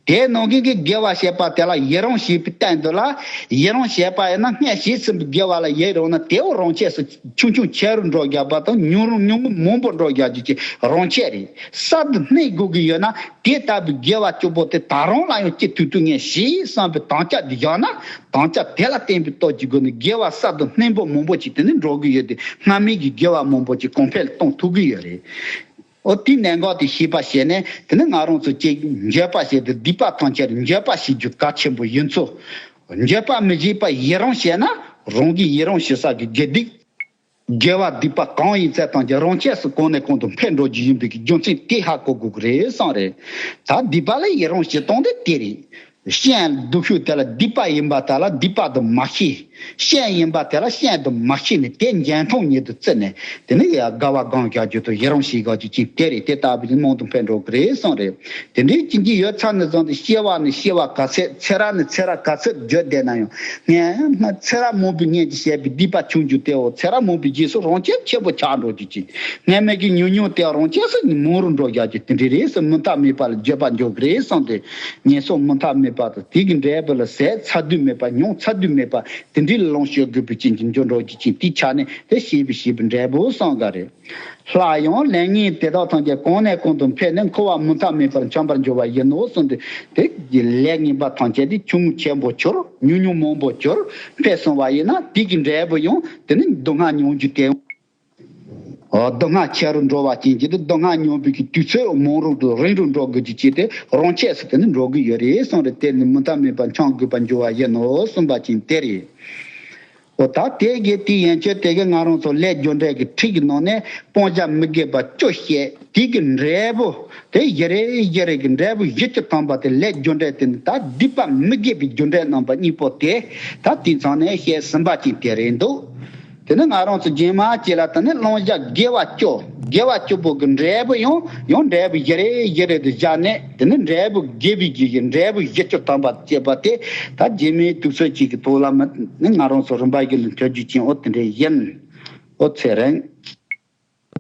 དེའི་ནང་གི་གི་དགེ་བ་བྱས་པ་དེ་ལ་ཡི་རང་ཞེས་པའི་བསྟན་དོན་ལ། ཡི་རང་བྱས་པ་ཡིན་ན་སྔས་བྱས་ཟིན་པའི་དགེ་བ་ལ་ཡི་རང་ན་དེའུ་རང་ཆས་སུ་ཆུང་ཆུང་ཆས་རུ་འགྲོ་རྒྱག་པ་དང་ཉུང་རུང་ཉུང་ངུ་མང་པོ་འགྲོ་རྒྱག་རྒྱུ་བཅས་རང་ཆས་རེད། གསར་དུ་སྣེ་དགོས་ཀྱི་ཡོད་ན་དེ་ལྟ་བུའི་དགེ་བ་སྐྱོ་པོ་དེ་ད་རང་ལ་ཡང་སྐྱེ་དུས་དུས་ངེས་ཞེས་བསམ་པའི་དམ་བཅའ་དེ་བཞག་ན་དམ་བཅའ་དེ་ལ་བརྟེན་པའི་སྟོབས་ཀྱི་སྒོ་ནས་དགེ་བ་གསར་དུ་སྣེ་འབུམ་མང་པོ་ཞིག་དེ་ནས་འགྲོ་གི་ཡོད་དེ་སྔར་མེད་ཀྱི་དགེ་བ་མང་པོ་ཞིག་གོང་འཕེལ་གཏོང་ཐུབ་ཀྱི་ཡོད་རེད། ཨོ་དེའི་གནད་འགག་དེ་ཤེས་པ་བྱས་ནས་དེ་ནི་ང་རང་ཚོ་གཅིག་འགྱོད་པ་བྱས་ཏེ་སྡིག་པ་ཐམས་ཅད་འགྱོད་པ་བྱེད་རྒྱུ་གལ་ཆེན་པོ་ཡིན་ཚུལ། འགྱོད་པ་མི་བྱེད་པར་ཡི་རང་བྱས་ན་རང་གིས་ཡི་རང་བྱེད་ས་ཀྱི་དགེ་སྡིག། དགེ་བ་སྡིག་པ་གང་ཡིན་ཚད་ཐམས་ཅད་རང་ཆས་སུ་གང་ནས་གང་དུ་འཕེལ་འགྲོ་རྒྱུ་ཡིན་པའི་རྒྱུ་མཚན་དེ་ཧ་གོ་དགོས་ཀྱི་རེད་བསམ་རེད། ད་སྡིག་པ་ལ་ཡི་རང་བྱེད་སྟངས་དེ་དེ་རེད། ཤན་སྡུག་ཤུགས་དེ་ལ་སྡིག་པ་ཡིན་པ་དག་ལ་སྡིག་པ་དུ་མ་ཤི། ཤན་ཡིན་པ་དེ་ལ་ཤན་དུ་མ་ཤི་ནས་དེ་འཇལ་མཐོང་ཉིད་དུ་བརྩི་ནས་དེ་ནི་དགའ་བ་དགང་བཞག་རྒྱུ་དང་ཡི་རང་ཞི་དགའ་རྒྱུ་གཅིག་དེ་རེད་དེ་ལྟ་བུ་ནི་རྨོངས་དང་འཕེལ་འགྲོ་གི་རེད་གསུངས་རེད། དེ་འདྲའི་བྱིན་གྱིས་ཡོད་ཚད་ནས་བཟུང་སྟེ་ཤེས་བ་ནི་ཤེས་བ་ག་ཚད་ཚེ་ར་ནི་ཚེ་ར་ག་ཚད་བརྗོད་བསྡད་ན་ཡང་ངས་ཚེ་ར་མང་པོའི་གཉེན་གྱི་བྱས་པའི་སྡིག་པ་བྱུང་རྒྱུ་དེའོ་ཚེ་ར་མང་པོའི་རྗེས་སུ་རང་སྐྱེད་ཆེན་པོ་ཆགས་འགྲོ་རྒྱུ་གཅིག་ངས་མེད་ཀྱི་ཉུང་ཉུང་དེའང་རང་སྐྱེས་སུ་མང་རུ་འགྲོ་བཞག་རྒྱུ་དེ་འདྲའི་རེད་ཟེར་མུ་མཐའ་མེད་པ་ལ་བརྗོད་པ་འཇོག་གི་རེད་གསུངས་ཏེ། ཉེས་གསོག་མུ་མཐའ་མེད་པ་དང་དེ་གི་འབྲས་བུ་ལ་ཟས་ཚ་དུས་མེད་པ་མྱོང་ཚ་དུས་མེད་པ་དེ་འདྲའི་ལ་ལོངས་སྤྱོད་དགོས་པའི་རྐྱེན་གྱིས་འབྱོར་འབྲོག་གི་ཁྱིམ་དེའི་ཆ་ནས་དེ་ཤེས་པའི་བྱིས་པའི་འབྲས་བུ་སྲང་ག་རེད། ལྷ་ཡང་ལན་ངེས་དེ་དག་ཐམས་ཅད་གོང་ནས་གོང་དུ་འཕེལ་ནས་འཁོར་བ་མུ་མཐའ་མེད་པར་འཁྱམས་པར་འགྱུར་བ་ཡིན་ནོ་གསུངས་ཏེ་དེ་གི་ལས་ངན་པ་ཐམས་ཅད་དེ་ཆུང་ངུ་ཆེན་པོ་གྱུར་ཉུང་ཉུང་མང་པོ་གྱུར་འཕེལ་སོང་བ་ཡིན་ན་དེ་གི་འབྲས་བུ་ཡང་དེ་ནི་སྡུག་བསྔལ་མྱོང་རྒྱུ་དེ། མདོ་སྔགས་ཁྱད་རུ་འགྲོ་བ་ཅན་གྱིས་ནི་མདོ་སྔགས་སྙོམས་འབུལ་གྱི་དུས་ཚོད་མང་རུང་དུ་རིང་རུ་འགྲོ་དགོས་རྒྱུ་བཅས་ཏེ་རང་ཆས་སུ་དེ་ནི་འགྲོ་གི་ཡོད་རེད་གསུངས་རེ་དེར་ནི་མུ་མཐའ་མེད་པར་འཆང་དགོས་པར་འགྱུར་བ་ཡིན་ནོ་གསུངས་པ་ཅན་དེ་རེད། འོ་ད་དེ་གའི་དེའི་ཡན་ཆོད་དེ་གའི་ང་རང་ཚོ་ལས་སྦྱོར་འགྲེལ་གྱི་ཁྲིད་ཀྱི་ནང་ནས་སྤང་བྱ་མི་དགེ་བ་བཅུ་བཤད། དེ་གའི་འབྲས་བུ་དེ་བཞི་རེད་བཞི་རེ་གའི་འབྲས་བུ་བཞི་བཅུ་ཐམ་པ་དེ་ལས་སྦྱོར་འགྲེལ་དེ་ནི་ད་བསྡུས་པ་མི་དགེ་བའི་སྦྱོར་འགྲེལ་རྣམ་པ་གཉིས་པོ་དེ་ད་དེའི་མཚང་ནས་བཤད་ཟིན་པ་ཅན་དེ་རེད་འདུག། དེ་ནི་ང་རང་ཚོ་རྒྱན་མ་སྐྱེས་ལ་ད་ནི་བླང་བཞག་དགེ་བ་སྐྱོ་དགེ་བ་སྐྱོ་པོ་གི་འབྲས་བུ་ཡང་ཡང་འབྲས་བུ་བཞི་རེ་བཞི་རེ་དུ་བཞག་ནས་དེ་ནི་འབྲས་བུ་དགེ་བའི་རྒྱུ་ཡིས་འབྲས་བུ་བཞི་སྐྱོ་དམ་པར་བསྐྱེད་པ་དེ་ད་རྗེས་མའི་དུག་སོལ་གཅིག་གི་ཐོག་ལ་མི་ནི་ང་རང་ཚོ་རིམ་པ་བཞི་ལ་འཁྱོལ་རྒྱུ་ཅན་འོ་དེ་འདྲའི་བཞིན་འོ་ཚེ་རིང།